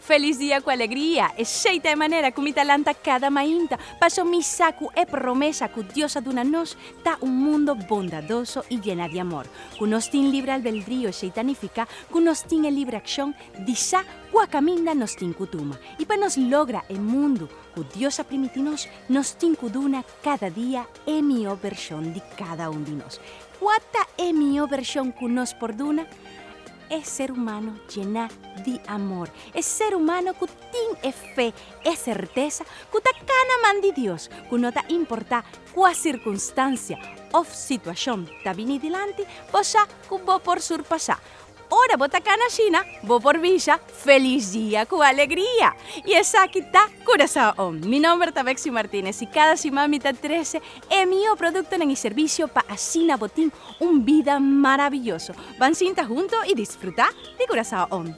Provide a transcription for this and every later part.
Felis dia ku alegria! Esei ta e manera ku mi ta lanta kada mainta, paso mi sa ku e promesa ku Dios a duna nos ta un mundo bondadoso i yena di amor. Ku nos tin libre albeldrio esei ta nifiká ku nos tin e libre akshon di sa Kua kaminda nos tin ku tuma? I pa nos logra e mundu ku Dios a primiti nos, nos tin ku duna kada dia e mihó bershon di kada un di nos. Kua ta e mihó bershon ku nos por duna? E ser humano jená di amor, e ser humano ku tin e fe, e sertesa ku ta kana man di Dios, ku no ta importá kua sirkunstansia òf situashon ta bini dilanti, bo sa ku bo por surpasá. Ora bo ta cana ashina, bo por bisha, Feliz dia cu alegria! Y esaki ta Curaçao On. Mi nomber ta Bexy Martinez y cada siman mi ta trece e mihó productonan y servicio pa ashina bo tin un bida maraviyoso. Ban sinta hunto y disfruta di Curaçao On.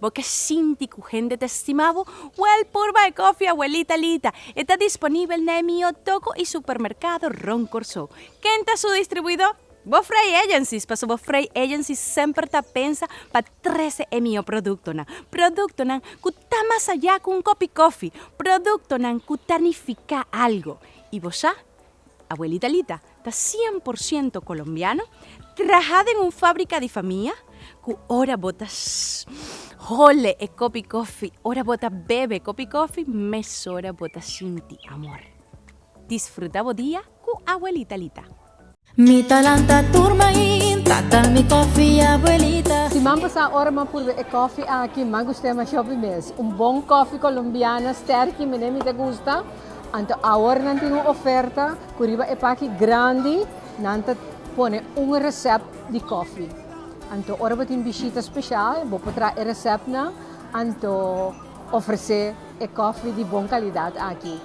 Bo ke sinti ku hende ta stima bo? Wèl, purba e kofi Abuelita Lita. E ta disponibel na e mihó toko i supermerkado rònt Kòrsou. Ken ta su distribuidó? Bo Frei Agencies, paso bo Frei Agencies semper ta pensa pa trese e mihó produktonan. Produktonan ku ta mas ayá ku un kopi kofi. Produktonan ku ta nifiká algu. I bo sa? Abuelita Lita, Ta cien por ciento colombiano, traha den un fabrica di famia, cu ora bo ta hole e copi cofi, ora bo ta bebe e copi cofi, mesora bo ta sinti amor. Disfruta bo dia cu Abuelita Lita. Mi ta lanta tur main ta ta mi cofi abuelita. Siman pasá ora m'a purbe e cofi aki, m'a gust'e mashó pi mes. Un bon cofi colombiana sterki, mi ne mi ta gusta. Anto awor nan tin un oferta cu riba e paki grandi nan ta pone un recep di cofi. Anto ora bo tin bishita special bo por traha e recepnan anto ofrece e cofi di bon calidad aki.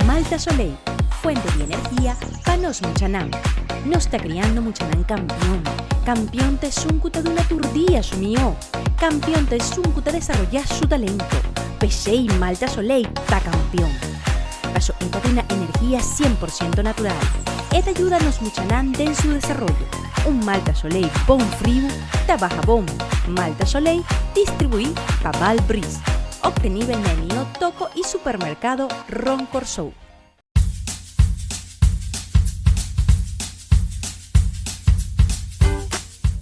Malta Soleil, fuente di energia pa nos muchanan. Nos ta kriando muchanan kampion. Kampion ta esun ku ta duna tur dia su mihó. Kampion ta esun ku ta desaroyá su talento. P'esei Malta Soleil ta kampion. Paso e ta tin na energia sien por siento natural. E ta yuda nos muchanan den su desaroyo. Un Malta Soleil bon friu ta baha bon. Malta Soleil distribuí pa Balbreeze. Obtenibel na e mihó toko i supermerkado rònt Kòrsou.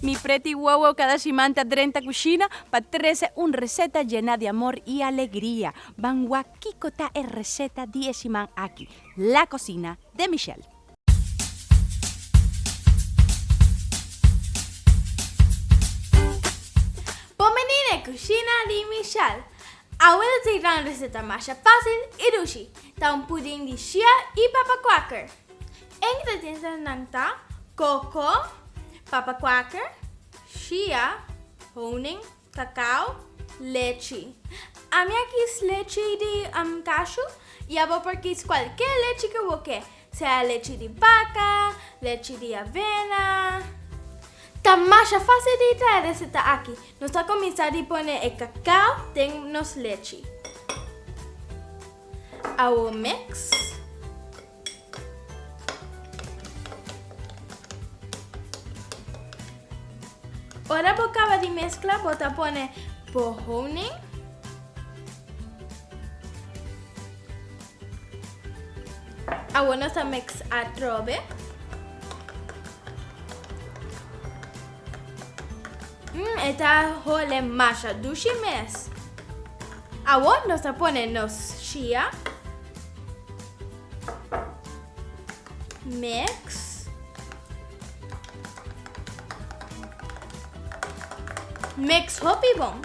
Mi pretty wowo kada siman ta drenta kushina pa trese un reseta yena di amor i alegria. Ban wak kiko ta e reseta di e siman aki. La cocina de Michelle. Bon bini n'e kushina di Michelle! Awel te tra un reseta masha fásil i dushi, ta un puding di shia i papa quaker. E ingredientenan ta, koko, papa quaker, shia, honing, Kakao, lechi. Ami a kis lechi di kashu i abo por kis kualke lechi ke bo ke, sea lechi di baka, lechi di avena. Ta masha fasil di trae reseta aki. Nos ta kuminsá di pone e kakao den nos lechi. Awor mix. Ora bo kaba di meskla bo ta pone bo honing, awor nos ta meksa atrobe, mm e ta hole masha dushi mes, awor nos ta pone nos shia. Mix. Mix hopi bon.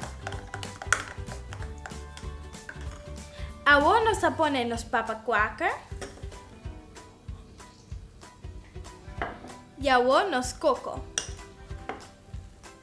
Awor nos a pone nos papa quaker. Y awor nos coco.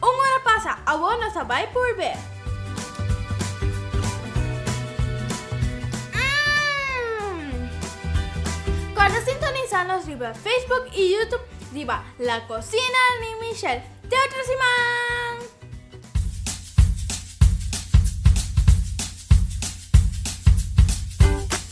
Un ora pasa, awor nos a bai purbe. Kòrda sintonisá nos riba Facebook i YouTube riba La Cocina di Michelle. Te otro siman!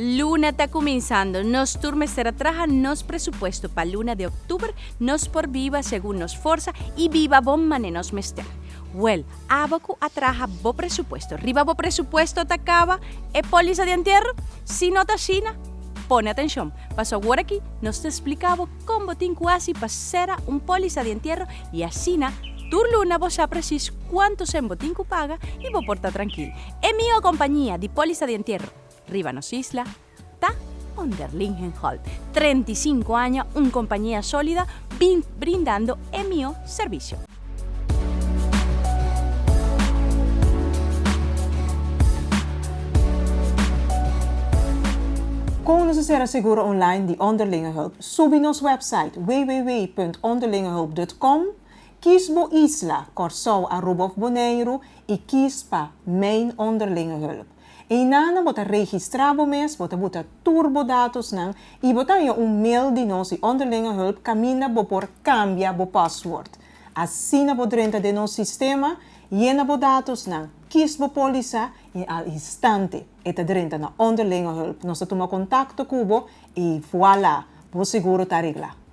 Luna ta cuminsando, nos tur mester a traha nos presupuesto pa luna di octuber, nos por biba segun nos forsa y biba bon mane nos mester. Well, Abo cu a traha bo presupuesto riba bo presupuesto ta caba e polisa di entierro? Si no ta asina, pone atencion, paso awor aki nos ta splica bo con bo tin cu haci pa cera un polisa di entierro y asina tur luna bo sa precies cuanto cen bo tin cu paga y bo por ta trankil. E miho compañia di polisa di entierro riba nos isla. Ta Onder Lingenholt, trenta i sinku aña, un compañia solida bin brindando e mihó servicio. Con nos a cera seguro online di Onder Lingenholt, subi nos website www.onderlingenholt.com, kies bo isla, Corsou, Aruba of Boneiru, y kies pa Main Onder Lingenholt. Einanan bo ta registra bo mes, bo ta buta tur bo datosnan i bo ta haña un mail di nos di Onderlingenhulp kaminda bo por kambia bo pasword. Asina bo drenta den nos sistema, yena bo datosnan, kies bo pólisa i al instante e ta drenta na Onderlingenhulp. Nos ta tuma kontakto ku bo i vuala! Bo seguro ta reglá.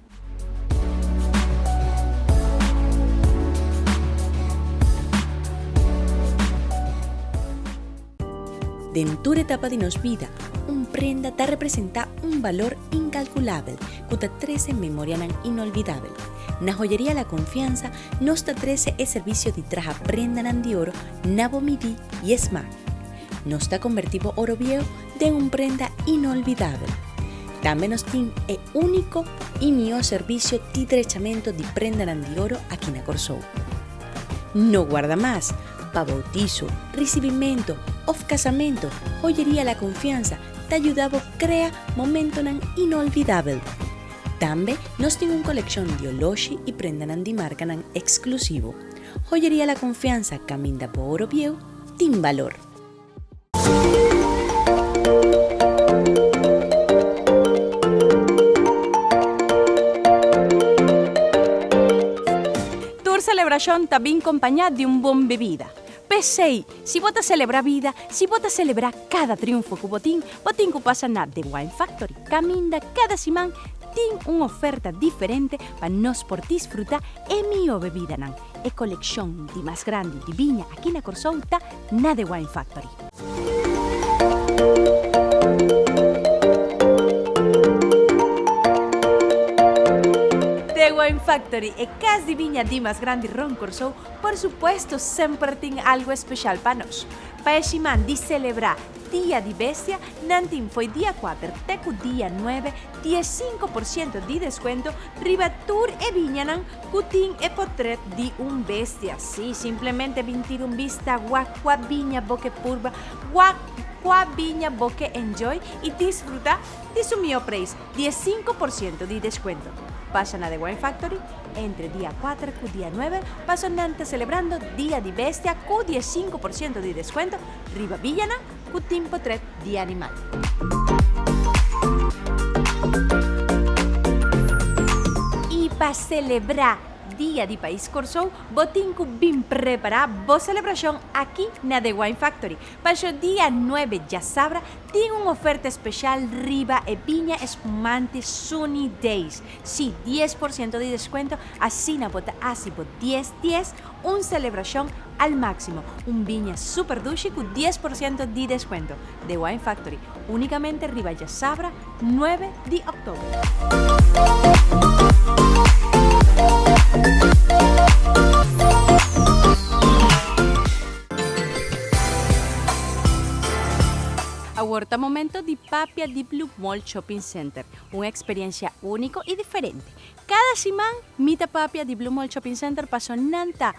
Den tur etapa di nos bida, un prenda ta representá un balor inkalkulabel ku ta trese memorianan inolvidabel. Na Hoyeria La Confianza nos ta trese e servisio di traha prendanan di oro na bo midí i esma. Nos ta kombertí bo oro bieu den un prenda inolvidabel. Tambe nos tin e úniko i mihó servisio di drechamento di prendanan di oro aki na Kòrsou. No guarda mas! Pa boutiso, risibimentu òf kasamentu, Hoyeria La Confianza ta yuda bo krea momentonan inolvidabel. Tambe nos tin un kolekshon di oloshi i prendanan di markanan eksklusivo. Hoyeria La Confianza kaminda bo oro bieu tin balor. Tur selebrashon ta bin kompañá di un bon bebida. P'esei, si bo ta selebrá bida, si bo ta selebrá kada triunfo ku bo tin, bo tin ku pasa na The Wine Factory. Kaminda kada siman tin un oferta diferente pa nos por disfrutá e mihó bebidanan. E kolekshon di mas grandi di biña aki na Kòrsou ta na The Wine Factory. The Wine Factory, e kas di biña di mas grandi rònt Kòrsou, por supuesto semper tin algu espeshal pa nos. Pa e siman di selebrá Dia di Bestia, nan tin fo'i dia kuater te ku dia nuebe dies sinku por siento di deskuento riba tur e biñanan Ku tin e potret di un bestia si. Simplemente bin tira un bista gua kua biña bo ke purba gua kua biña bo ke enjoy i disfruta di su mihó preis di e sinku por siento di deskuento. Pasha na The Wine Factory entre dia kuater ku dia nuebe paso nan ta selebrando Dia di Bestia ku di e sinku por siento di deskuento riba biñanan. ku tin potret di animal. I pa selebrá Dia di Pais Kòrsou bo tin ku bin prepará bo selebrashon aki na The Wine Factory. Paso dia nuebe djasabra tin un oferta speshal riba e biña espumante Sunny Days. Sí, dies por siento di deskuento, asina bo ta hasi bo dies dies Un celebracion al maximo, un biña super dushi cu dies por ciento di descuento. The Wine Factory, unicamente riba djasabra nuebe di october. Awor ta momento di papia di Blue Mall Shopping Center, un experiencia unico y diferente. Kada siman mi ta papia di Blue Mall Shopping Center paso nan ta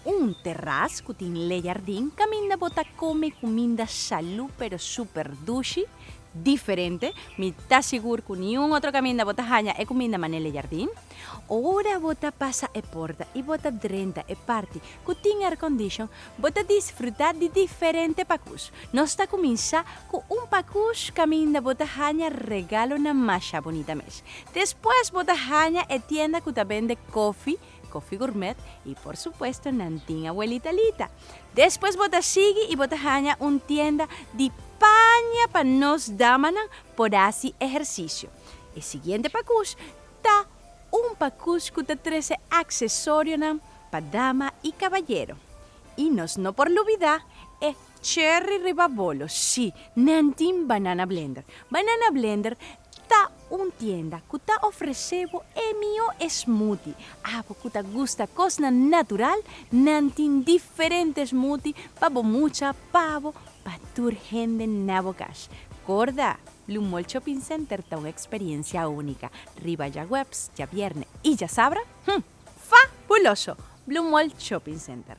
un teras cu tin le jardin caminda bo ta come cuminda salu pero super dushi, diferente, mi ta sigur cu niun otro caminda bo ta haña e cuminda mane le jardin. Ora bo ta pasa e porta y bo ta drenta e parti cu tin aircondition bo ta disfruta di diferente pacus nos ta cuminsa Ku un pakush kaminda bo ta haña regalonan masha bunita mes. Despues bo ta haña e tienda ku ta bende kofi, Kofi Gourmet, i por supuesto nan tin Abuelita Lita. Despues bo ta sigui i bo ta haña un tienda di paña pa nos damanan por hasi ehersisio. E siguiente pakush ta un pakush ku ta trese aksesorionan pa dama i kabayero. I nos no por lubidá e Cherry riba bolo, shi, nan tin Banana Blender. Banana Blender ta un tienda cu ta ofrece bo e mihó smoothie. Abo cu ta gusta cosnan natural, nan tin diferente smoothie pa bo mucha, pa bo, pa tur hende na bo cash. Corda, Blue Mall Shopping Center ta un experiencia única. Riba djagueps, djabierne y djasabra, hm! Fabuloso! Blue Mall Shopping Center.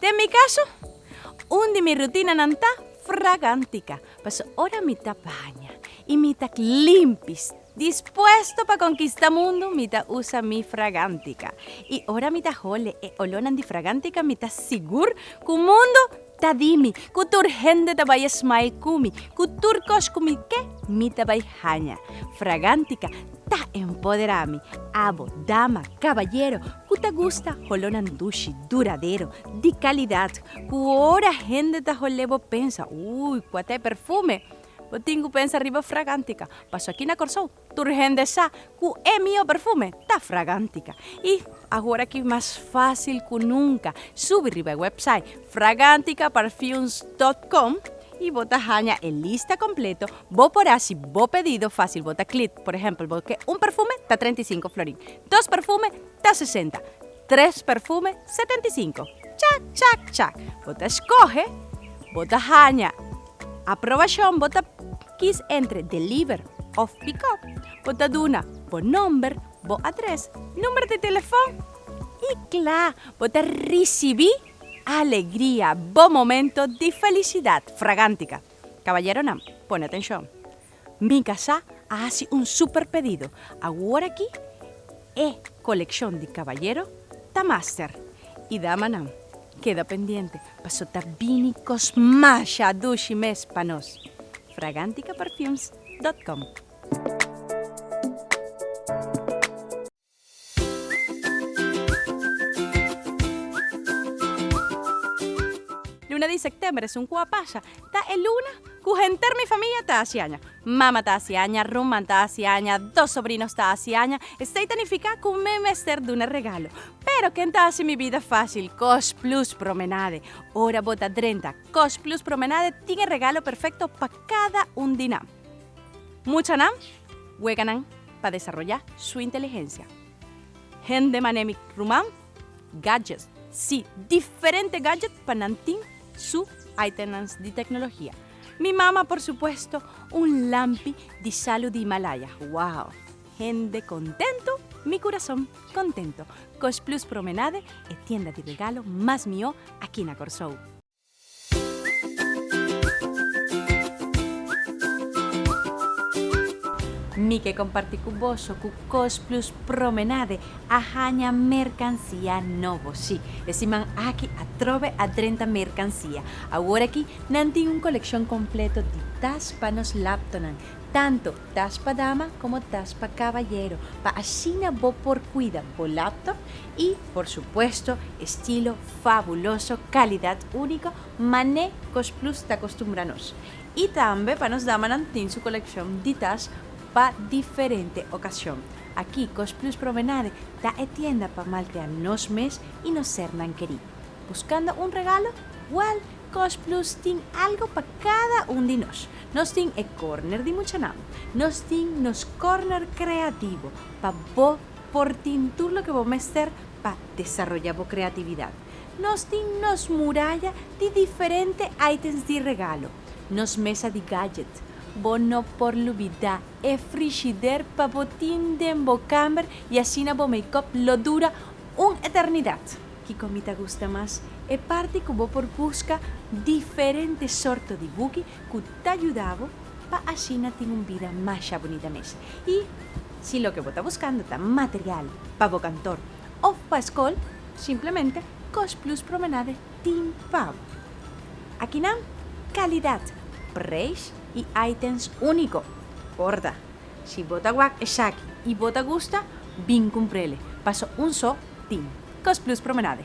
Den mi caso, un di mi rutinanan ta fragantica, paso ora mi ta baña y mi ta limpis, dispuesto pa conquista mundo mi ta usa mi fragantica. Y ora mi ta hole e olornan di fragantica mi ta sigur cu mundo ta di mi, cu tur hende ta bay a smile cu mi, cu tur cos cu mi ke mi ta bay haña. Fragantica ta empodera mi, abo, dama, caballero, Cu ta gusta holonan dushi, duradero, di calidad, cu ora hende ta hol'e bo pensa, Uy, cua ta e perfume? Bo tin cu pensa riba Fragantica, paso aki na Corsou tur hende sa cu e mio perfume ta Fragantica. Y ahora aki mas facil cu nunca, subi riba e website fraganticaparfums.com y bo ta haña e lista completo, bo por haci bo pedido facil, bo ta click, por ejemplo, bo ke un perfume ta treinta i sinku florin, Dos perfume ta sesenta. Tres perfume setenta i sinku. Chak, chak, chak. Bo ta skohe, bo ta haña aprobashon, bo ta kis entre deliver òf pikòp, bo ta duna bo nòmber, bo adrès, number di telefòn i kla bo ta risibí alegria, bo momento di felisidat fragántika. Kaballeronan, pone atenshon. Mi kasá a hasi un súper pedido. Aworakí e kolekshon di kabayero ta master i damanan keda pendiente paso ta bini kos masha dushi mes pa nos! Fraganticaperfumes.com. Luna di sektember esun ku a pasa ta e luna ku henter mi famia ta hasi aña. Mama ta hasi aña, rumman ta hasi aña, dos sobrinos ta hasi aña. Esei ta nifiká ku mi mester duna regalo. Pero ken ta hasi mi bida fásil? Kosplus Promenade. Ora bo ta drenta, Kosplus Promenade tin e regalo perfekto pa kada un di nan. Muchanan, wega nan. pa desaroyá su inteligensia. Hende mané mi ruman, gadgets, sí, diferente gadget pa nan tin su itemnan di tecnologia. Mi mama, por supuesto, un lampi di salu di Himalaya. Wow! Hende contento, mi curazon contento. Cost Plus Promenade e tienda di regalo mas mihó aki na Corsou. Mi ke komparti ku boso ku Cosplus Promenade a haña merkansia nobo. Sí, e siman aki atrobe a drenta merkansia. Awor aki nan tin un kolekshon kompleto di tas pa nos laptonan, tantu tas pa dama komo tas pa kabayero, pa asina bo por kuida bo laptop I, por supuesto, e stilo fabuloso, kalidad único, mané Kosplus ta kostumbra nos. I tambe pa nos damanan tin su kolekshon di tas pa diferente okashon. Aki, Kosplus Promenade ta e tienda pa maltrea nos mes i nos sernan kerí. Buskando un regalo? Wèl, Kosplus tin algo pa kada un di nos. Nos tin e kòrner di muchanan. Nos tin nos kòrner kreativo pa bo Por tin tur loke bo mester pa desaroyá bo kreatividat. Nos tin nos muraya di diferente ítems di regalo, nos mesa di gádjet. Bo no por lubidá e frishider pa bo tin den bo kàmber i asina bo makeup lo dura un eternidat. Kiko mi ta gusta mas? E parti ku bo por buska diferente sorto di buki ku ta yuda bo pa asina tin un bida masha bunita mes. I Si loke bo ta buskando ta material pa bo kantor òf pa skol, simplemente Kosh Plus Promenade tin pa bo. Aki nan, kalidat, preis i itens úniko. Porta, si bo ta wak esaki i bo ta gusta, bin kumpr'ele, paso un so tin. Kos Plus Promenade.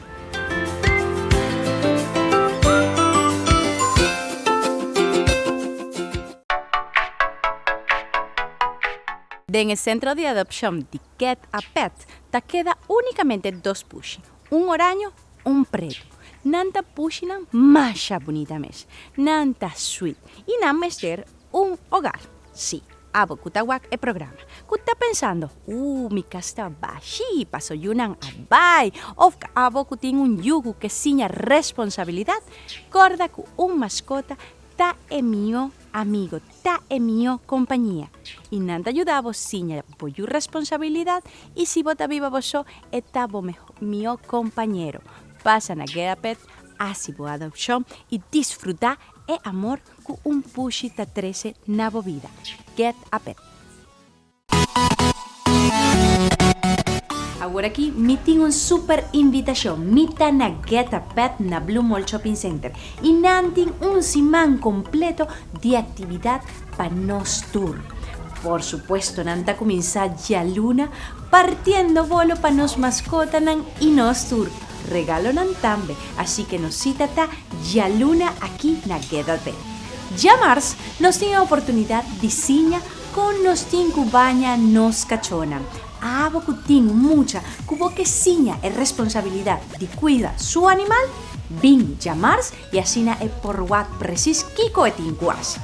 Den e Centro di Adopcion di Cat a Pet ta keda unicamente dos pushi, un oraño, un preto. Nan ta pushinan masha bunita mes. Nan ta sweet y nan mester Un Hogar. Sí, abo cu ta wak e programa, cu ta pensando, Ooh, mi cas ta bashí pa so yunan a bai! Of abo cu tin un yu cu ke siña responsabilidad, corda cu un mascota ta e mihó amigo, ta e mihó compañia. I nan ta yuda bo siña bo yu responsabilidad i si bo ta biba bo so, e ta bo mihó compañero. Pasa na Geda Pet, haci bo adopcion i disfrutá e amor Cu un pushi ta trece na bo bida. Get a pet. Awor aki mi tin un super invitacion. Mi ta na Get a Pet na Blue Mall Shopping Center y nan tin un siman completo di actividad pa nos tur. Por supuesto nan ta cuminsa dialuna partiendo bolo pa nos mascotanan y nos tur. regalonan tambe, así ke nos sita ta djaluna aki na Gedelpet. Djamars nos tin e oportunidat di siña kon nos tin ku baña nos kachónan. Abo ku tin mucha ku bo ke siña e responsabilidat di kuida su animal, bin djamars I asina e por wak presis kiko e tin ku hasi.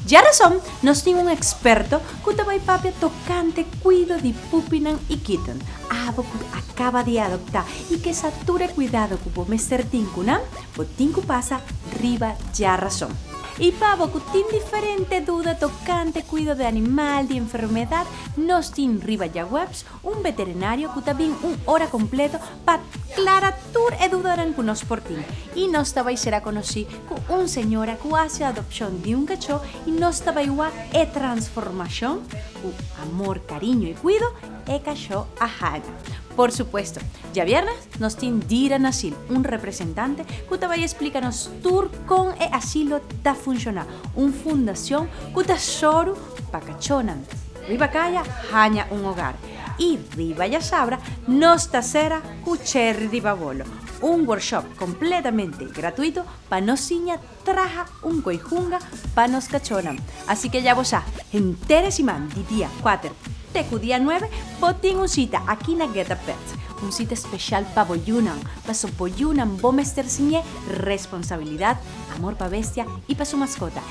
Dja rason nos tin un eksperto ku ta bai papia tokante kuido di pupinan i kitten. Abo ku a kaba di adoptá i ke sa tur e kuidado ku bo mester tin ku nan, bo tin ku pasa riba dja rason. I pa bo ku tin diferente duda tokante kuido di animal, di enfermedat, nos tin riba dja webs Un beterinario cu ta bin un ora completo pa clara tur e dudanan cu nos por tin. Y nos ta bay cera conoci cu un señora cu haci adopcion di un cacho y nos ta bay wak e transformacion cu amor, cariño y cuido e cacho a haga. Por supuesto, djaviernes nos tin Dira Nasil, un representante cu ta bay explica nos tur con e asilo ta funciona, un fundacion cu ta soru Pa cachonan, riba caya haña un hogar y riba yasabra nos ta cera cu Cherry di Babolo, un workshop completamente gratuito pa nos siña traha un coi hunga pa nos cachonan. Así que ya bo sa, henter e siman di dia cuater te cu dia nuebe bo tin un cita aki na Geta Pets, un cita special pa boyunan, pasobra boyunan bo mester siñe responsabilidad, amor pa bestia y pa su mascota.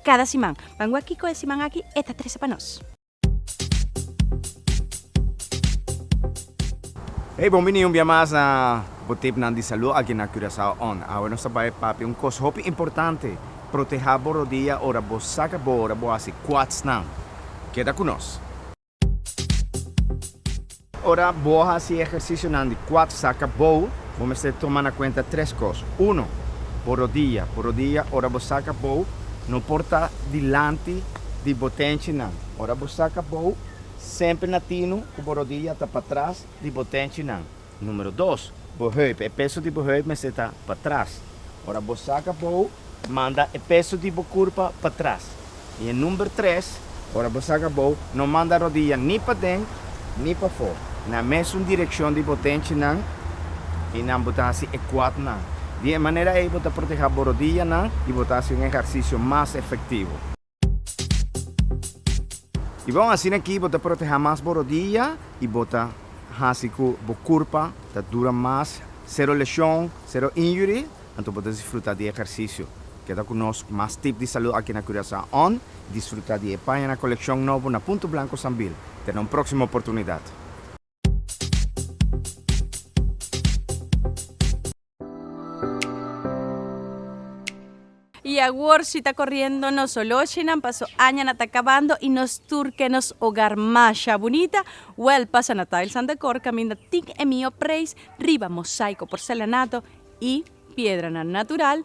Kada siman. Pan gua kiko e siman aki e ta trese pa nos. Hey bon bini un bia mas na bo tipnan di salú aki na Curaçao on. Awe nos ta bai papia un kos hopi importante, protehá bo rodia ora bo saka bo ora bo hasi quatsnan. Keda ku nos. Ora bo hasi ehercisionan di kuater sa kabou, bo mester tuma na kuenta tres kos. Uno, bo rodia. Bo rodia ora bo sa kabou no por ta dilanti di bo tenchinan. Ora bo sa kabou, semper na tinu ku bo rodia ta patras di bo tenchinan. Numero dos, bo heup, e peso di bo heup mester ta patras. Ora bo saka bou, manda e peso di bo kurpa patras. I e number tres, ora bo saka bou, no manda rodiya ni paden ni pafó, na mesun direkshon di bo tenchinan i nan bo ta hasi e kuatnan. Di e manera ei bo ta protehá bo rodiyanan i bo ta hasi un ehersisio mas efektivo. I bon, asina aki bo ta protehá mas bo rodia i bo ta hasi ku bo kurpa ta dura mas. Sero leshon, sero injury, anto bo ta disfrutá di e ehersisio. Keda ku nos mas tip di salú aki na Curaçao on disfrutá di e paña na kolekshon nobo na Punto Blanco Sambil. Te na un próksimo oportunidat. Y awor si ta coriendo nos holochinan paso aña na ta cabando y nos tur ke nos hogar masha bunita well pasa na Tiles and Decor caminda tin e mihor prijs riba mosaico porcelanato y piedranan natural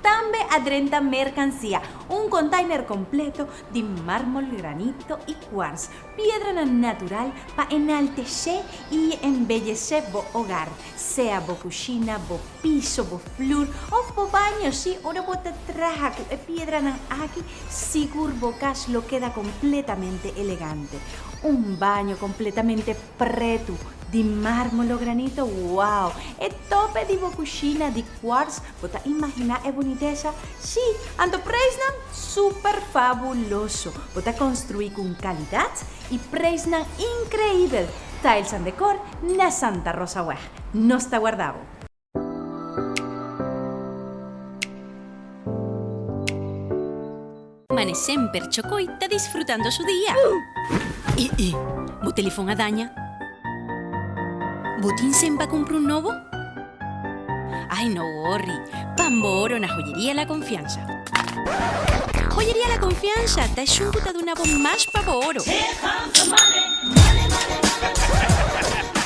Tambe a drenta merkansia, un kontainer kompleto di mármol, granito i kuarts, piedranan natural pa enaltesé i embellesé bo ogar, sea bo kushina, bo piso, bo flur òf bo baño. Sí, ora bo ta traha ku e piedranan aki, sigur bo kas lo keda kompletamente elegante. Un baño kompletamente pretu, di mármol o granito, wow! E tope di bo kushina di. Cuars, bo ta imaginá e bunitesa? Sí, anto preisnan súper fabuloso! Bo ta construí cu un calidad y preisnan increíbel! Tiles and Decor na Santa Rosa Weg. Nos ta warda bo! Mane semper Chocoy ta disfrutando su dia. E e Bo telefon a daña? Bo tin sen pa cumpra un nobo? Ay no worry, pan bo oro na Joyeria La Confianza. Joyeria La Confianza ta esjun cu ta duna bo mas pa bo oro.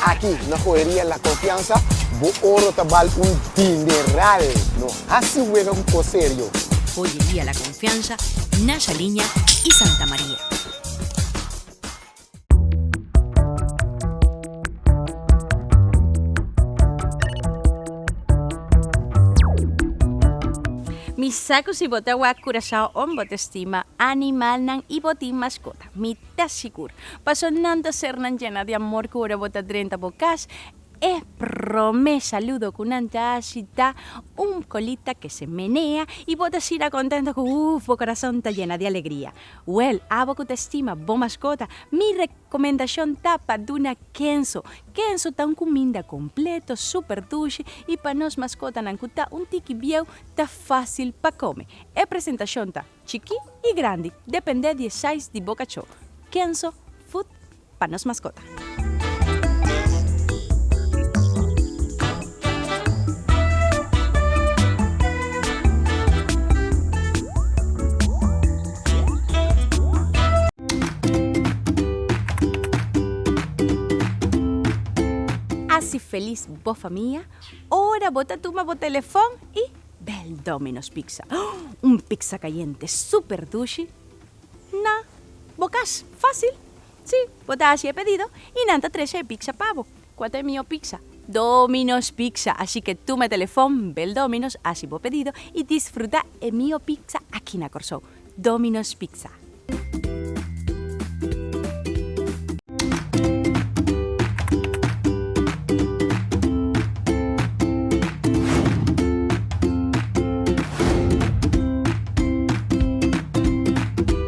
Aki na Joyeria La Confianza bo oro ta bal un dineral. Hasi wega ku kos serio. Oye dia La Confiansa, Nasha Liña i Santa Maria. Mi sa ku si bo ta wak Curacao ong bo ta stima animalnan i bo tin maskota. Mi ta sigur, paso nan ta ser nan yena di amor ku ora bo ta drenta bo kas, E prome saludo cu nan ta haci ta, Un colita que se menea, y bo ta sila contento cu uff bo corazon ta yena di alegria. Well, abo cu ta estima bo mascota, mi recomendacion ta pa duna Kenzo. Kenzo ta un cuminda completo, super dushi y pa nos mascotanan cu ta un tiki bieu ta facil pa come. E presentacion ta chiki y grandi, depende di e size di bo cachó. Kenzo Food pa nos maskota. Haci feliz bo famia ora bo ta tuma bo telefon y bel Domino's Pizza. Un pizza cayente super dushi na bo cas. Facil! Sí, bo ta haci e pedido y nan ta tresha e pizza pa bo. Cua ta e miho pizza? Domino's Pizza! Así que tuma e telefon, bel Domino's, haci bo pedido y disfruta e miho pizza aki na Corsou. Domino's Pizza.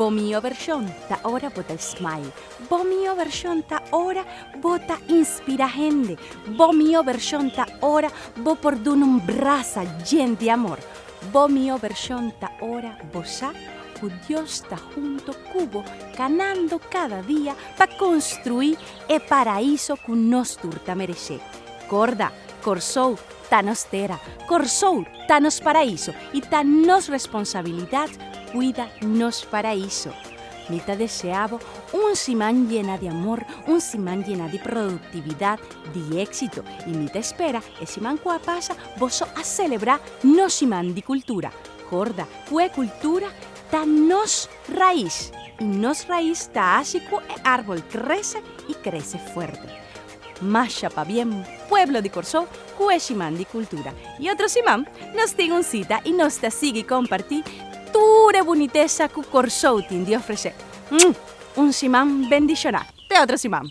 Bo mio version ta ora bo ta smile Bo mio version ta ora bo ta inspira hende Bo mio version ta ora bo por duna un brasa djen di amor Bo mihó vershon ta Ora bo sa ku Dios ta hunto ku bo kanando kada dia pa konstruí e paraíso ku nos tur ta mereshé. Korda, Kòrsou ta nos tera, Kòrsou ta nos paraíso i ta nos responsabilidat kuida nos paraíso. Mi ta deseá bo un siman yena di amor, un siman yena di produktividat, di éksito i mi ta spera e siman ku a pasa boso a selebrá nos Siman di Kultura. Korda ku e kultura ta nos rais i nos rais ta hasi ku e árbol krese i krese fuerte. Masha pabien pueblo di Kòrsou ku e Siman di Kultura i otro siman nos tin un sita i nos ta sigui kompartí tur e bunitesa ku Kòrsou tin di ofresé. Un siman bendishoná. Pedra si mam.